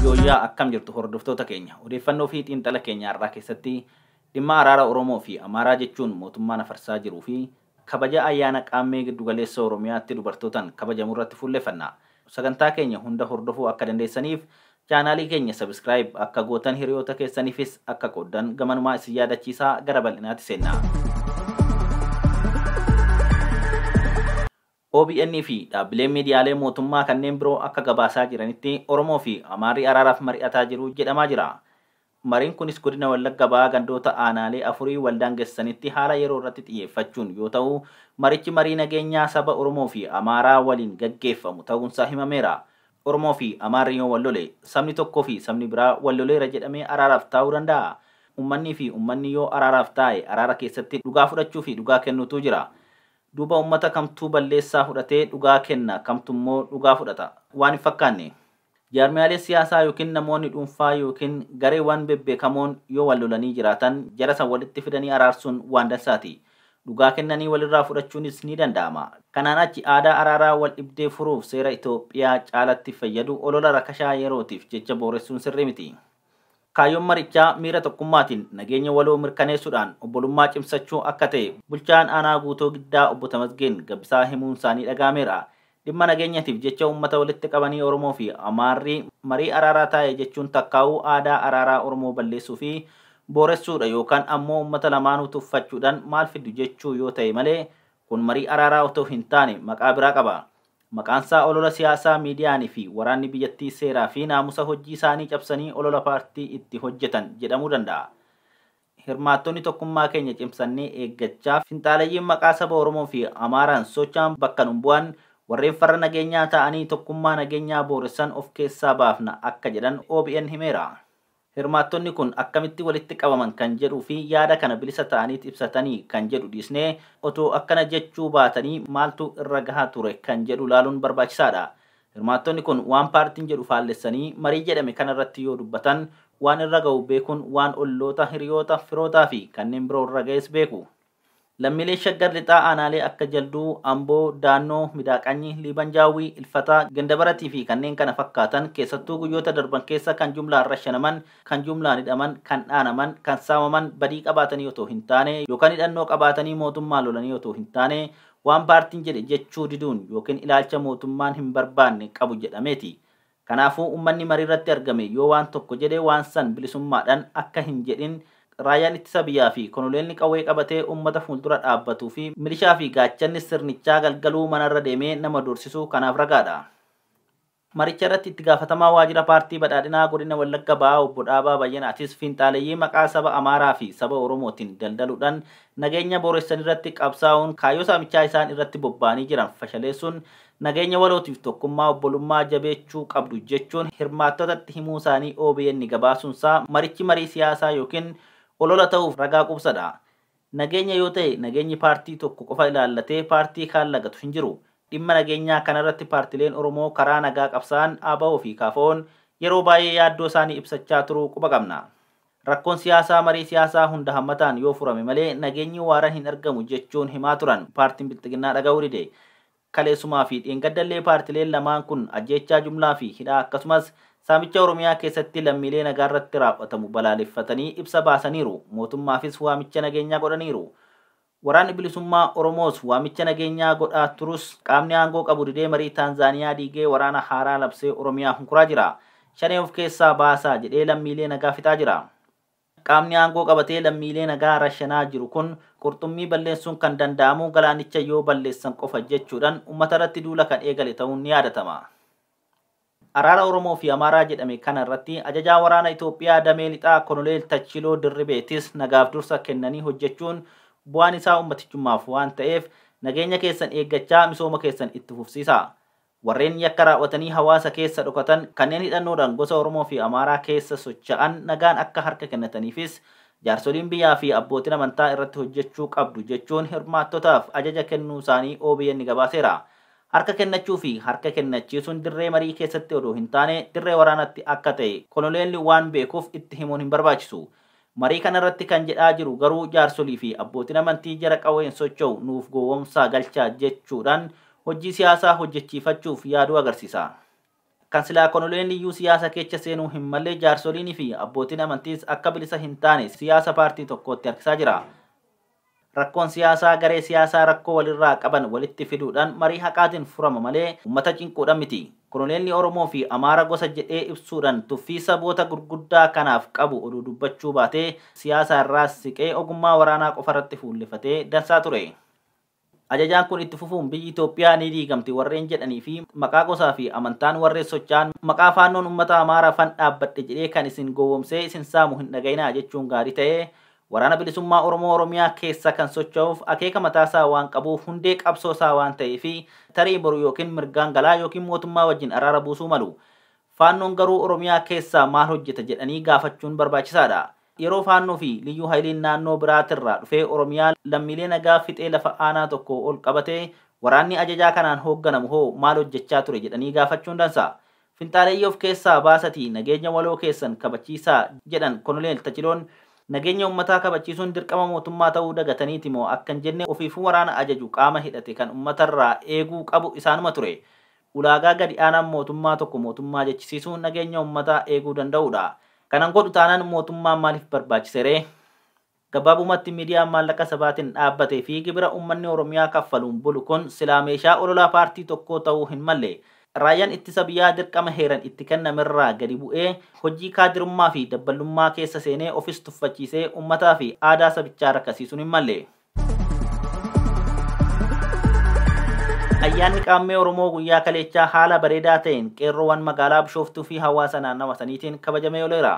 Yooyyaa akkam jirtu hordoftoota keenya odeeffannoo fi xiinxala keenya har'aa keessatti dhimma araara Oromoo fi Amaaraa jechuun mootummaan afarsaa jiruu fi kabaja ayyaana qaammee giddugaleessa Oromiyaatti dubartootaan kabajamu irratti fuulleffanna. Sagantaa keenya hunda hordofuu akka dandeessaniif Chaanaalii keenya subscribe akka gootan hiriyoota keessanifis akka qooddan gamanumaa isin yaadachiisa gara bal'inaatti seenna. OBN fi dhaabbileen miidiyaalee mootummaa kanneen biroo akka gabaasaa jiranitti Oromoo fi Amaarri araaraaf mari'ataa jiru jedhamaa jira. Mariin kunis Godina Wallagga Bahaa gandoota aanaalee afurii waldaangessanitti haala yeroo irratti xiyyeeffachuun yoo ta'u, marichi marii nageenyaa saba Oromoo fi Amaaraa waliin gaggeeffamu ta'uunsaa himameera. Oromoo fi Amaarri yoo wal lole, sabni tokkoo fi sabni biraa wal loleera jedhamee araaraaf taa'uu danda'aa? Ummannii fi ummanni yoo araaraaf taa'e araara keessatti dhugaa fudhachuu fi dhugaa kennuutu jira. Duuba ummata kamtuu balleessaa fudhatee dhugaa kenna kamtummoo dhugaa fudhata? Waan hin fakkaanne. Jaarmiyaalee siyaasaa ykn namoonni dhuunfaa ykn gareewwan bebbeekamoon yoo wal lolanii jiraatan jara san walitti fidanii araarsuun waan dansaati. Dhugaa kennanii walirraa fudhachuunis ni danda'ama. Kanaan achi aadaa araaraa wal dhibdee furuuf seera Itoophiyaa caalatti fayyadu olola rakashaa yerootiif jecha booressuun sirrii miti. Kaayyoon marichaa miira tokkummaatiin nageenya waloo mirkaneessuudhaan obbolummaa cimsachuu akka ta'e Bulchaan Aanaa Guutoo Giddaa Obbo Tamasgeen Gabbisaa himuunsaanii dhaga'ameera. Dhimma nageenyatiif jecha uummata walitti qabanii Oromoofi Amaarri marii araaraa taa'e jechuun takkaa'uu aadaa araaraa Oromoo balleessuufi booressuudha yookaan ammoo uummata lamaanuu tuffachuudhaan maal fiddu jechuu yoo ta'e malee kun marii araaraa otoo hintaane maqaa biraa qaba. Maqaansaa olola siyaasaa miidiyaan fi waraanni biyyattii seeraa fi naamusa hojjii isaanii cabsanii olola paartii itti hojjetan jedhamuu danda'a. Hirmaattonni tokkummaa keenya cimsannee eeggachaa, finxaalayyiin maqaa saba Oromoo fi Amaaraan socha'an bakka nun bu'an, warreen farra nageenyaa ta'anii tokkummaa nageenyaa booressan of keessaa baafna akka jedhan obn himeera. Hirmaattonni kun akkamitti walitti qabaman kan jedhuu fi yaada kana bilisa ta'aniit ibsatanii kan jedhu dhiisnee, otoo akkana jechuu baatanii maaltu irra gaha ture kan jedhu ilaaluun barbaachisaa dha. Hirmaattonni kun waan paartiin jedhu faallessanii marii jedhame kana irratti yoo dubbatan waan irra gahu beekuun waan olloota, hiriyoota, firootaa fi kanneen biroo irra gahes beeku. Lammiilee Shaggar Lixaa aanaalee akka Jalduu, Amboo, Daannoo, Midaaqanyi, Liiban Jaawwii, Ilfataa, Gandabaratii fi kanneen kana fakkaatan keessattuu guyyoota darban keessa kan jumlaan rashanaman, kan jumlaan hidhaman, kan dhaanaman, kan saamaman badii qabaatanii otoo hin taane yookan hidhannoo qabaatanii mootummaa lolanii otoo hin taane waan paartiin jedhe jechuu diduun yookin ilaalcha mootummaan hin barbaanne qabu jedhameeti. Kanaafuu ummanni mariirratti argame yoo waan tokko jedhe waan san bilisummaadhan akka hin jedhin Raayyaan Ittisa Biyyaa fi Konoleelli qawwee qabatee ummata fuuldura dhaabbatuu fi milishaa fi gaachanni sirnichaa galgaluu manarra deemee nama doorsisuu kanaaf ragaadha. Maricha irratti Itti Gaafatamaa Waajjira Paartii Badhaadhinaa Godina Wallagga Bahaa Obbo Dhaabaa Bayyanaatis Finxaaleyyii maqaa saba Amaaraa fi saba Oromootin daldaluudhan nageenya booressanirratti qabsaa'uun kaayyoo saamichaa isaan irratti bobba'anii jiran fashaleessuun nageenya walootiif tokkummaa obbolummaa jabeechuu qabdu jechuun hirmaattotatti himuusaanii obn gabaasuunsaa marichi marii siyaasaa ykn olola ta'uuf ragaa qubsadha. Nageenya yoo ta'e nageenyi paartii tokko qofa ilaallatee paartii kaan lagatu hin jiru. Dhimma nageenyaa kanarratti paartileen Oromoo karaa nagaa qabsaa'an abo fi KFOn yeroo baay'ee yaaddoosaanii ibsachaa turuu quba qabna. Rakkoon siyaasaa marii siyaasaa hunda hammataan yoo furame malee nageenyi waaran hin argamu jechuun himaa turan paartiin Bilxiginnaa dhaga'uu dide. Kaleessumaa fi dheengadda illee paartileen lamaan kun ajjeechaa jumlaa fi hidhaa akkasumas saamicha Oromiyaa keessatti lammiilee nagaa irratti raaw'atamu balaaleffatanii ibsa baasaniiru. Mootummaafis waamicha nageenyaa godhaniiru. Waraanni Bilisummaa Oromoos waamicha nageenyaa godhaa turus qaamni aangoo qabu didee marii Taanzaaniyaa diigee waraana haaraa labsee Oromiyaa hunkuraa jira. Shanee of keessaa baasaa jedhee lammiilee nagaa fixaa jira. Qaamni aangoo qabatee lammiilee nagaa rashanaa jiru kun qurxummii balleessuun kan danda'amu galaanicha yoo balleessan qofa jechuudhan ummatarratti duula kan eegale ta'uun ni yaadatama. Araara Oromoo fi Amaaraa jedhame kana irratti Ajajaa Waraana Itoophiyaa Damee Lixaa Konoleel Tachiloo Dirribeetis nagaaf dursa kennanii hojjechuun bu'aan isaa ummatichummaaf waan ta'eef nageenya keessan eeggachaa misooma keessan itti fufsiisaa. Warreen yakka raaw'atanii hawaasa keessa dhokatan, kanneen hidhannoodhaan gosa Oromoo fi Amaaraa keessa socha'an nagaan akka harka kennataniifis jaarsoliin biyyaa fi abbootin amantaa irratti hojjechuu qabdu jechuun hirmaattotaaf ajaja kennuusaanii obn gabaaseera. Harka kennachuu fi harka kennachiisuun dirree marii keessatti odoo hin taane dirree waraanaatti akka ta'e Konoleelli waan beekuuf itti himuun hin barbaachisu. Marii kana irratti kan jedhaa jiru garuu jaarsolii fi abbootin amantii jara qawween socho'u nuuf gowwomsaa galcha jechuudhaan hojjii siyaasaa hojjechiifachuuf yaaduu agarsiisa. Kan silaa konoleen iyyuu siyaasa keecha seenuu hin malle jaarsoliin fi abbootin amantiis akka bilisa hin taane siyaasa paartii tokkootti harkisaa jira. Rakkoon siyaasaa garee siyaasaa rakkoo walirraa qaban walitti fiduudhaan marii haqaatiin furama malee ummata cinquudhaan miti. Koloneelli Oromoo fi Amaara gosa jedhee ibsuudhaan tuffii saboota gurguddaa kanaaf qabu odoo dubbachuu baatee siyaasa irraa siqee ogummaa waraanaa qofarratti fuullefatee dansaa ture. Ajajaan kun itti fufuun biyyi Itoophiyaa ni diigamti warreen jedhanii fi maqaa gosaa fi amantaan warreen socha'an maqaa Faannoon ummata Amaara fan dhaabbadhe jedhee kan isin gowwomsee isin saamu hin dhaga'inaa jechuun gaarii ta'ee Waraana Bilisummaa Oromoo Oromiyaa keessa kan socho'uuf akeeka mataa isaa waan qabuuf hundee qabsoo isaa waan ta'eefi tarii boru ykn mirgaan galaa ykn mootummaa wajjin araara buusuu malu. Faannoon garuu Oromiyaa keessaa maal hojjeta jedhanii gaafachuun barbaachisaadha. Yeroo Faannoo fi Liyyuu Hayiliin naannoo biraatirraa dhufee Oromiyaa lammiilee nagaa fixee lafa aanaa tokkoo ol qabate waraanni ajajaa kanaan hoogganamu hoo maal hojjechaa ture jedhanii gaafachuun dansa. Finxaaleyyii of keessaa baasatii nageenya waloo keessan kabachiisaa jedhan Kononeel Tachiloon, nageenya ummataa kabachiisuun dirqama mootummaa ta'uu dagataniiti moo akka hin jenne ofiifuu waraana ajaju qaama hidhate kan ummatarraa eeguu qabu isaanuma ture. Ulaagaa gadi aanaan mootummaa tokko mootummaa jechisiisu nageenya ummataa eeguu danda'uudha. Kana hin godhu taanaan mootummaan maaliif barbaachiseree? Gabaabumatti miidiyaan maallaqa sabaatin dhaabbate fi gibira ummanni Oromiyaa kaffaluun bulu kun silaa meeshaa ololaa paartii tokkoo ta'uu hin malle. Raayyan ittisa biyyaa dirqama heeran itti kennamerraa gadi bu'ee hojii kaadirummaa fi dabballummaa keessa seenee ofis tuffachiisee ummataa fi aadaa sabichaa rakkasiisuun hin malle. Ayyaanni Qaammee Oromoo guyyaa kaleechaa haala bareedaa ta'een qeerroowan magaalaa Bishooftuu fi hawaasa naannawa saniitiin kabajamee oleera.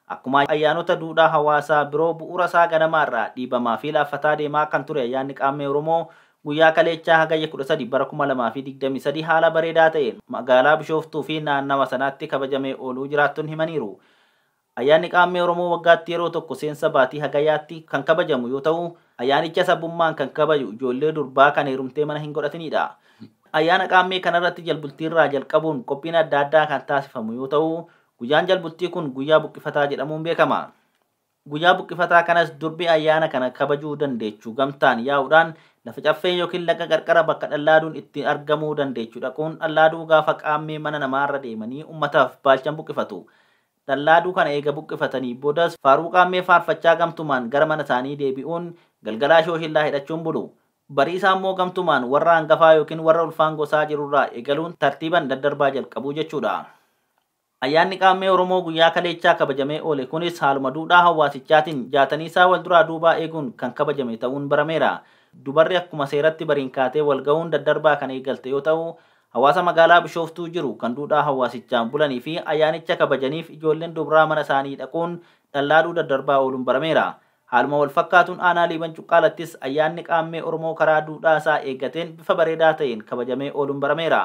Akkuma ayyaanota duudhaa hawaasaa biroo bu'uurasaa ganamaarraa dhiibamaafi laaffataa deemaa kan ture Ayyaanni Qaammee Oromoo guyyaa kaleechaa Hagayya 13 bara 2023 haala bareedaa ta'een magaalaa Bishooftuufi naannawa sanaatti kabajamee ooluu jiraattonni himaniiru. Ayyaanni Qaammee Oromoo waggaatti yeroo tokko seensa baatii Hagayaatti kan kabajamu yoo ta'u, ayyaanicha sabbummaan kan kabaju ijoollee durbaa kan heerumtee mana hin godhatinidha. Ayyaana Qaammee kanarratti jalbultiirraa jalqabuun qophiin adda addaa kan taasifamu yoo ta'u, Guyyaan Jalbultii kun guyyaa buqqifataa jedhamuun beekama. Guyyaa buqqifataa kanas durbi ayyaana kana kabajuu dandeechu gamtaan yaa'uudhaan lafa caffee yookiin laga qarqara bakka dhallaaduun itti argamuu dandeechu dhaquun dhallaaduu gaafa qaammee mana namaarra deemanii ummataaf baalchan buqqifatu. Dhallaaduu kana eega buqqifatanii boodas faaruu qaammee faarfachaa gamtumaan gara manasaanii deebi'uun galgalaa shooshillaa hidhachuun bulu. Bariisaammoo gamtumaan warra hangafaa yookiin warra ulfaan gosaa jirurraa eegaluun tartiiban daddarbaa jalqabu jechuudha. Ayyaanni Qaammee Oromoo guyyaa kaleechaa kabajamee oole kunis haaluma duudhaa hawaasichaatiin jaataniisaa walduraa duubaa eeguun kan kabajame ta'uun barameera. Dubarri akkuma seeratti bariin kaatee walgahuun daddarbaa kan eegalte yoo ta'u, hawaasa magaalaa Bishooftuu jiru kan duudhaa hawaasichaan bulaniifi ayyaanicha kabajaniif ijoolleen dubraa mana isaanii dhaquun dhallaadhuu daddarbaa ooluun barameera. Haaluma walfakkaatuun aanaa Liiban Cuqqaalattis ayyaanni Qaammee Oromoo karaa duudhaasaa eeggateen bifa bareedaa ta'een kabajamee ooluun barameera.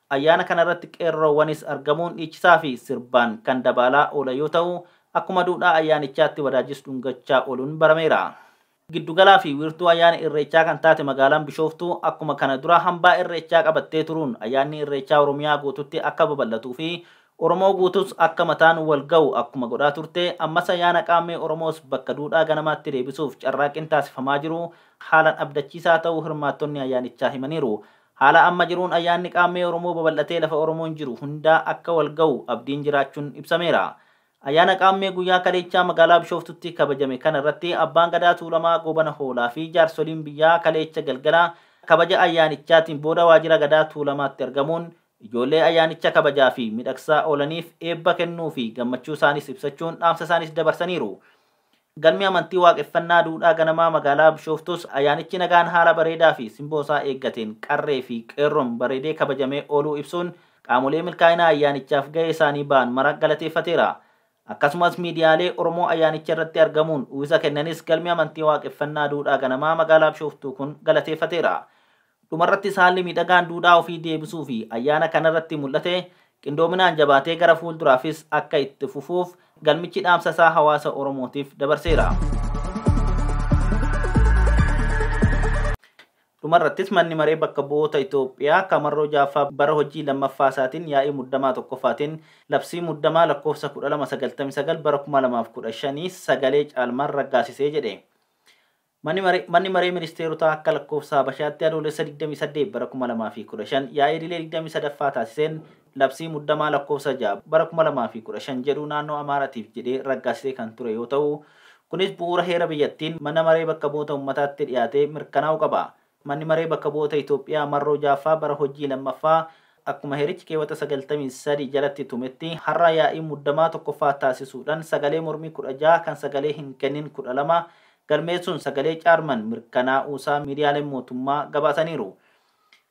Ayyaana kana irratti qeerroowanis argamuun dhiichisaa fi sirbaan kan dabaalaa oolan yoo ta'u, akkuma duudhaa ayyaanichaatti wadaajjis dhungachaa ooluun barameera. Giddu galaa fi wiirtuu ayyaana Irreechaa kan taate magaalaan Bishooftuu akkuma kana dura hambaa Irreechaa qabattee turuun ayyaanni Irreechaa Oromiyaa guututti akka babal'atuu fi Oromoo guutuus akka mataan wal ga'u akkuma godhaa turte ammas ayyaana Qaammee Oromoos bakka duudhaa ganamaatti deebisuuf carraaqqiin taasifamaa jiru haalan abdachiisaa ta'uu hirmaattonni ayyaanichaa himaniiru. Haala amma jiruun ayyaanni Qaammee Oromoo babal'atee lafa Oromoon jiru hundaa akka wal ga'u abdiin jiraachuun ibsameera. Ayyaana Qaammee guyyaa kaleechaa magaalaa Bishooftutti kabajame kana irratti Abbaan Gadaa Tuulamaa Goobana Hoolaa fi jaarsoliin biyyaa kaleecha galgala kabaja ayyaanichaatiin booda waajjira Gadaa Tuulamaatti argamuun ijoollee ayyaanicha kabajaa fi midhagsaa oolaniif eebba kennuu fi gammachuu isaaniis ibsachuun dhaamsa isaaniis dabarsaniiru. Galmi amantii Waaqeffannaa Duudhaa Ganamaa magaalaa Bishooftuus ayyaanichi nagaan haala bareedaa fi simboo isaa eeggateen qarree fi qeerroon bareedee kabajamee ooluu ibsuun, qaamolee milkaa'ina ayyaanichaaf gahee isaanii ba'an mara galateeffateera. Akkasumas miidiyaalee Oromoo ayyaanicha irratti argamuun uwwisa kennanis galmi amantii Waaqeffannaa Duudhaa Ganamaa magaalaa Bishooftuu kun galateeffateera. Dhumarrattis haalli miidhagaan duudhaa ofii deebisuu fi ayyaana kanarratti mul'ate qindoominaan jabaatee gara fuulduraafis akka itti fufuuf galmichi dhaamsa isaa hawaasa Oromootiif dabarseera. Dhumarrattis Manni Maree Bakka Bu'oota Itoophiyaa ka marroo 6ffaa bara hojii 2ffaa isaatiin yaa'ii muddamaa 1ffaatiin Labsii Muddamaa Lakkoofsa 1299 bara 2015 sagalee caalmaan raggaasise jedhe. Manni Maree Ministeerotaa akka lakkoofsa Habashaatti Adoolessa 28 bara 2015 yaa'ii idilee 23ffaa taasiseen labsii muddamaa lakkoofsa 6 bara 2015 jedhu naannoo Amaaraatiif jedhee raggaasisee kan ture yoo ta'u, kunis bu'uura heera biyyattiin mana maree bakka bu'oota ummataatti dhiyaatee mirkanaa'uu qaba. Manni Maree Bakka Bu'oota Itoophiyaa marroo 6ffaa bara hojii 2ffaa akkuma heerichi keewwata 93 jalatti tumetti har'a yaa'ii muddamaa 1ffaa taasisuudhan sagalee mormii 16 kan sagalee hin kennin 12 galmeessuun sagalee caarman mirkanaa'uusaa miidiyaaleen mootummaa gabaasaniiru.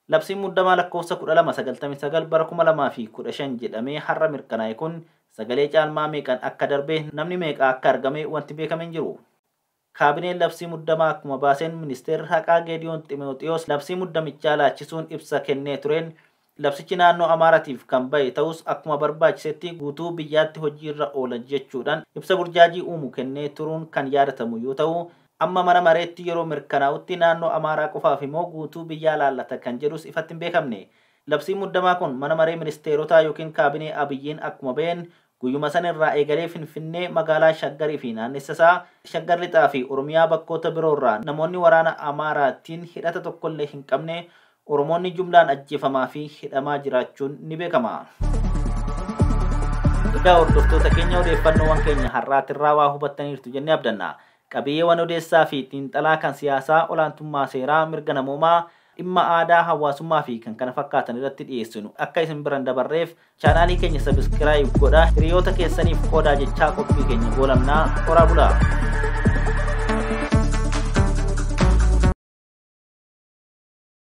Labsiin muddamaa lakkoofsa 12 99 bara 2015 jedhamee har'a mirkanaa'e kun sagalee caalmaa meeqan akka darbe namni meeqa akka argame wanti beekame hin jiru. Kaabineen labsii muddamaa akkuma baaseen Ministeerri Haqaa Geediyoon Ximooxiwoos labsii muddamichaa laachisuun ibsa kennee tureen, labsichi naannoo Amaaratiif kan bahe ta'us akkuma barbaachisetti guutuu biyyaatti hojiirra oola jechuudhaan ibsa burjaajii uumu kennee turuun kan yaadatamu yoo ta'u, amma mana mareetti yeroo mirkanaa'utti naannoo Amaaraa qofaafimoo guutuu biyyaa laallata kan jedhus ifatti hin beekamne. Labsiin muddamaa kun mana maree ministeerotaa ykn kaabinee Abiyyiin akkuma baheen Guyyuma sana irraa eegalee Finfinnee, magaalaa Shaggar fi naannessa isaa, Shaggar Lixaa fi Oromiyaa bakkoota biroo irraa namoonni waraana Amaaraa tiin hidhata tokko illee hin qabne Oromoonni jumlaan ajjeefamaa fi hidhamaa jiraachuun ni beekama. Egaa hordoftoota keenya odeeffannoowwan keenya har'aatirraa waa hubattaniirtu jennee abdanna. Qabiyeewan odeessaa fi xiinxalaa kan siyaasaa, olaantummaa seeraa, mirga namoomaa, dhimma aadaa, hawaasummaa fi kkf irratti dhiyeessinu akka isin bira hin dabarreef chaanaalii keenya sabiskiraayib godha hiriyoota keessaniif qoodaa jechaa qophii keenya goolabna horaa bulaa.